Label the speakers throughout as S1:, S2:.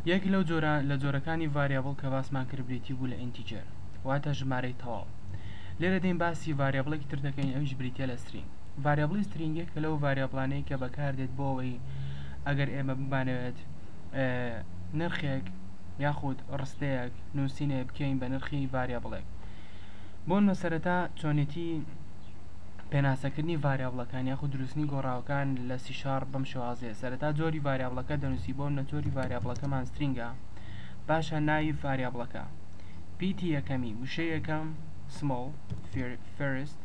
S1: یەک لەو جۆرە لە جۆرەکانی ڤاریابڵ کە باسمان کرد بریتی بوو لە ئینتیجەر واتە ژمارەی تەواو لێرە دێین باسی ڤاریابڵێکی تر دەکەین ئەویش بریتیە لە سترینگ ڤاریابڵی سترینگ یەکە لەو ڤاریابڵانەی کە بەکاردێت بۆ ئەوەی ئەگەر ئێمە بمانەوێت نرخێک یاخود ڕستەیەک نووسینێ بکەین بە نرخی ڤاریابڵێک بۆن بە سەرەتا چۆنێتی پێناسەکردنی ڤاریابڵەکان یاخود دروستنی گۆڕاوەکان لە چار بەم شێوازەیە سەرەتا جۆری ڤاریابڵەکە دەنوسی بۆ منە جۆری ڤاریابڵەکەمان سترینگە باشە ناوی ڤاریابڵەکە پیتی یەکەمی وشەی یەکەم سمۆڵ فێرست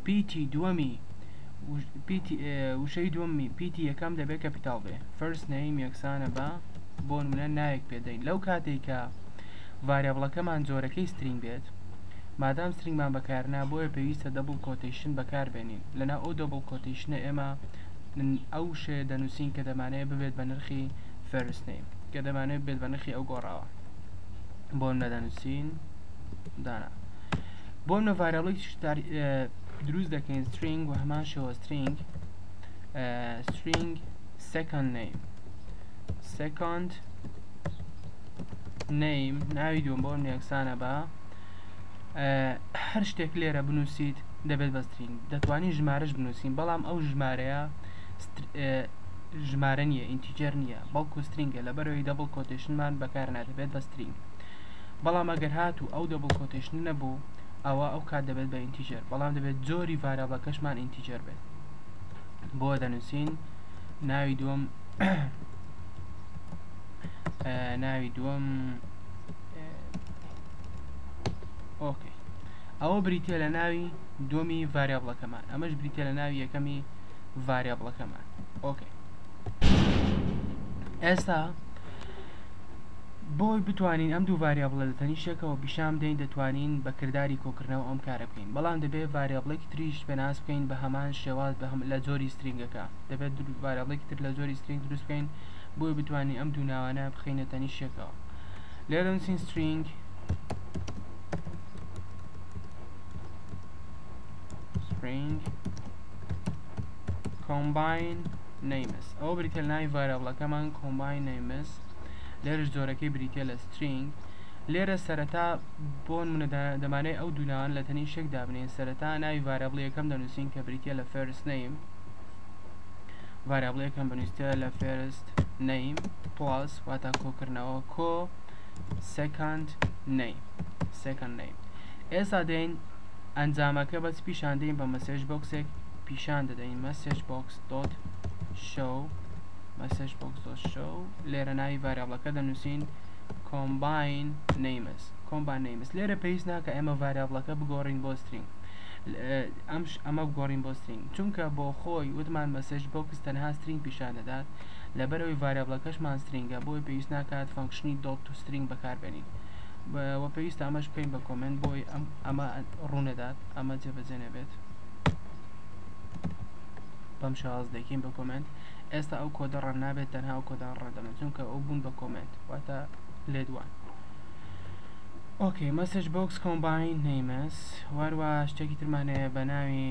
S1: پیتی دووەمی وشەی دووەمی پیتی یەکەم دەبێت کە پیتاڵ بێ فەرس نەیم یەکسانە بە بۆ منە ناوێک پێدەین لەو کاتێکە ڤاریابڵەکەمان جۆرەکەی سترینگ بێت مادام سرنگمان بەکارنا بۆیە پێویستە دەبڵ کۆتیشن بەکاربێنین لەنا ئەو دەبڵ کۆتیشنە ئێمە من ئەو وشەیە دەنووسین کە دەمانەیە ببێت بە نرخی فێرست نیم کە دەمانێت بێت بە نرخی ئەو گۆڕاوە بۆ نەدەنووسین دانا بۆ نە ڤایرەڵی دروست دەکەین سترینگ و هەمان شەوە سترینگ سترینگ سەکەند نیم سەکەند نیم ناوی دوم بۆ یەکسانە بە هەر شتێک لێرە بنووسیت دەبێت بە سترین دەتوانین ژمارەش بنووسین بەڵام ئەو ژمارەیە ژمارە نیە ئینتیجر نییە بەڵکو سترینگە لە بەرەوەی دەبڵ کۆتشنمان بەکار نادەبێت بە سترین بەڵام ئەگەر هات و ئەو دەبڵ کۆتشن نەبوو ئەوە ئەو کات دەبێت بە ئینتیجر بەڵام دەبێت جۆری ڤارا بەکەشمان ئینتیجر بێت بۆ دەنووسین ناوی دووەم ناوی دووەم ئۆکەی ئەوە بریتە لە ناوی دومی ڤریابڵەکەمان ئەمەش بریتە لە ناوی یەکەمی ڤریابڵەکەمان ئۆکەی ئێستا بۆی بتوانین ئەم دوو ڤاریا بڵێ لە تەنیشتێکەوە پیشان دەین دەتوانین بە کردداری کۆکردنەوە ئەم کارە بکەین بەڵام دەبێت ڤاریابڵێکی تریش پێناس بکەین بە هەمان شێواز بە هەم لە جۆری سترینگەکە دەبێت ڤاریابڵێکی تر لە جۆری سترینگ دروست بکەین بۆی بتوانین ئەم دوو ناوانە بخینە تەنیشتێکەوە لێرە نووسین سترینگ سترینگ کۆمباین نەیمس ئەو بریتە ناوی ڤایرەڵەکەمان کۆمباین نەیمس لێرش جۆرەکەی بریتە لە سترینگ لێرە سەرەتا بۆن منە دەمانەی ئەو دوولان لە تەنی شێک دابنین سەرەتا ناوی ڤایرەڵی یەکەم دەنووسین کە بریتە لە فێرس نەیم ڤایرەڵی یەکەم بنووسە لە فێرست نەیم پڵاس واتا کۆکردنەوە کۆ سێکاند نەی سێکەند نەی ئێستا دێین ئەنجامەکە بەس پیشان دەین بە مەسێژ بۆکسێک پیشان دەدەین مەسێژ بۆکس دۆت شەو مەسێژ بۆکس دۆت شەو لێرە ناوی ڤاریابڵەکە دەنووسین کۆمباین نەیمس کۆمبان نەیمس لێرە پێویست ناکە ئێمە ڤاریابڵەکە بگۆڕین بۆ سترینگ ئەمش ئەمە بگۆڕین بۆ سترینگ چونکە بۆ خۆی وتمان مەسێژ بۆکس تەنها سترینگ پیشان دەدات لەبەرئەوەی ڤاریابڵەکەشمان سترینگە بۆیە پێویست ناکات فەنکشنی دۆت تو سترینگ بەکاربێنین و پێویستە ئەمەش بکەین بە کۆمێنت بۆی ئەمە ڕوونەدات ئەمە جێبەجێ نەبێت بەم شاز دەکەین بە کۆمێنت ئێستا ئەو کۆدە ڕەن نابێت تەنها ئەو کۆدان ڕەدەمە چونکە ئەو بوون بە کۆمێنت واتە لێدوان ئۆکەی مەسج بۆکس کۆمباین نەیمەس واروا شتێکی ترمانەیە بە ناوی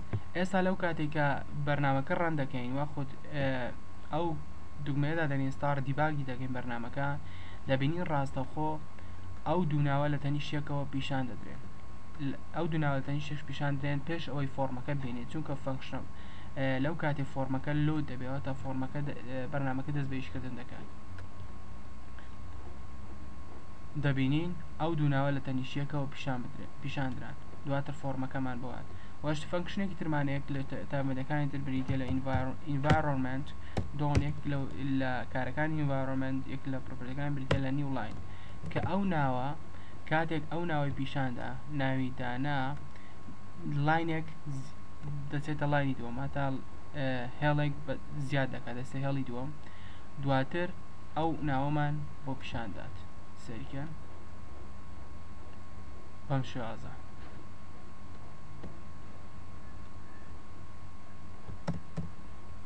S1: ئێستا لەو کاتەی کە بەرنامەکە ڕەن دەکەین وە خود ئەو دوگمەیە دادەنین ستار دیباگی دەکەین بەرنمەکە دەبینین ڕاستەوخۆ ئەو دووناوە لە تەنیشتێکەوە پیشان دەدرێن ئەو دووناوە تەنیشش پیشان درێن پێش ئەوەی فۆرمەکە بینێت چونکە فەنکشنم لەو کاتی فۆرمەکە لۆ دەبێەوە تا فۆرمەکە بەرنمەکە دەست بەیشکردن دەکات دەبینین ئەو دووناوە لە تەنیشتەکەەوە پیشان بدرێت پیشاندران دواتر فۆرمەکەمان بۆات وەش فەنکشنێکی ترمان هەیە لە تابەدەکانی تر بریتە لە ئینڤایرۆنمنت دۆن یەک لە کارەکانی ئینڤایرۆنمنت یەک لە پرۆپەرەکان بریتە لە نیو لاین کە ئەو ناوە کاتێک ئەو ناوەی پیشاندا ناوی دانا لاینێک دەچێتە لاینی دووەم هەتا هێڵێک زیاد دەکات دەستە هێڵی دووەم دواتر ئەو ناوەمان بۆ پیشاندات سەریکەن بەم شێوازە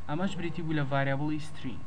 S1: ئەمەش بریتی بوو لە ڤاریابڵی سترینگ